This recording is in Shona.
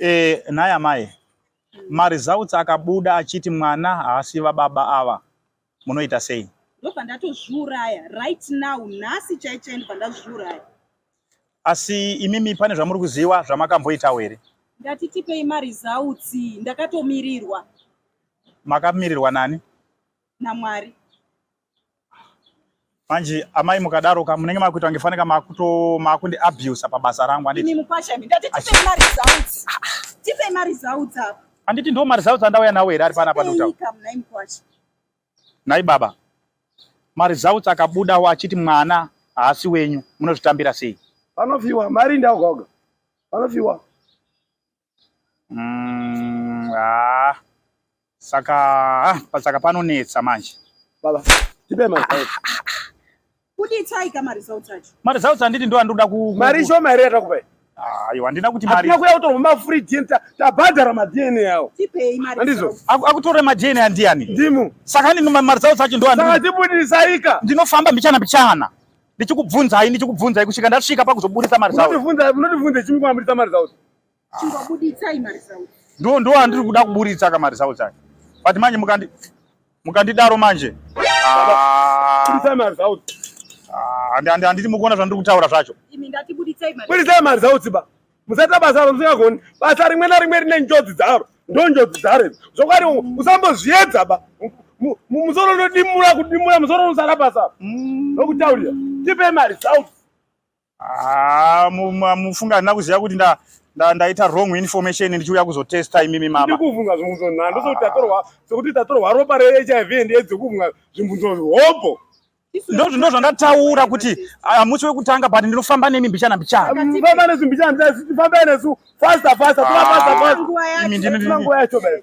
Eh, nhai amai, maresults akabuda achiti mwana haasi vababa ava, munoita sei? Ndobva ndatozviuraya right now, nhasi chaichai ndobva ndazviuraya. Asi imimi pane zvamuri kuziva zvamakamboitawo here? Ndati tipei maresults, ndakatomirirwa. Makamirirwa nani? NaMwari. Manje amai mukadaro ka munenge makuita kunge faneka makuto makundi abuse pabasa rangu anditi. Ini mukwasha mi ndati tipe ma results. Tipe ma results apa. Anditi ndo ma results andauya nawo here ari pana pa doctor. Nai baba. Ma results akabuda wa achiti mwana haasi wenyu munozvitambira sei? Vanofiwa mari ndaoga oga. Vanofiwa. Mm, ah, saka ah, pasaka panonetsa manje. Baba, tipe manje. Ah, ah, ah. Kuti itai kama results acho. Ma results anditi ndo andoda ku Mari sho mari yata kupai. Ah, yo andina kuti mari. Atina kuya kutorwa ma free gym ta tabhadhara ma DNA yao. Tipei mari. Andizo. Akutore ma DNA andiani. Ndimu. Saka ni ma results acho ndo andina. Saka tibudisaika. Ndinofamba mbichana mbichana. Ndichikubvunza hai ndichikubvunza kusvika ndasvika pakuzoburitsa ma results. Unotivunza unotivunza chimwe kwamburitsa ma results. Chingobuditsai maresults. Ndo ndo andiri kuda kuburitsa ka maresults acho. But manje mukandi mukandidaro manje. Ah. Buditsai maresults. Ah, andi andi anditi mukuona zvandiri kutaura zvacho. Imi ndati buditsai maresults. Buditsai maresults ba. Musata basa musingagoni. Basa rimwe na rimwe rine njodzi dzaro. Ndo njodzi dzaro. Zvokwadi usambozviedza ba. Musoro unodimura kudimura musoro usara basa. Mm. Ndokutaurira. Tipe maresults. Ah, mufunga handina kuziva kuti nda ndaita wrong information ndichiuya kuzotesta imimi mama ndikuvhunga zvibvunzo nhani ndokuti tatorwa sokuti tatorwa ropa rehiv and aids kuvhunga zvibvunzo zvihobho ndozvindo zvandataura kuti hamusi ah, wekutanga but ndinofamba nemi mbichana mbichanafamba nesu mbichana mbichana famba nesu fasta fasta tovafasta ah, fasta imi ndinonguva yacho baio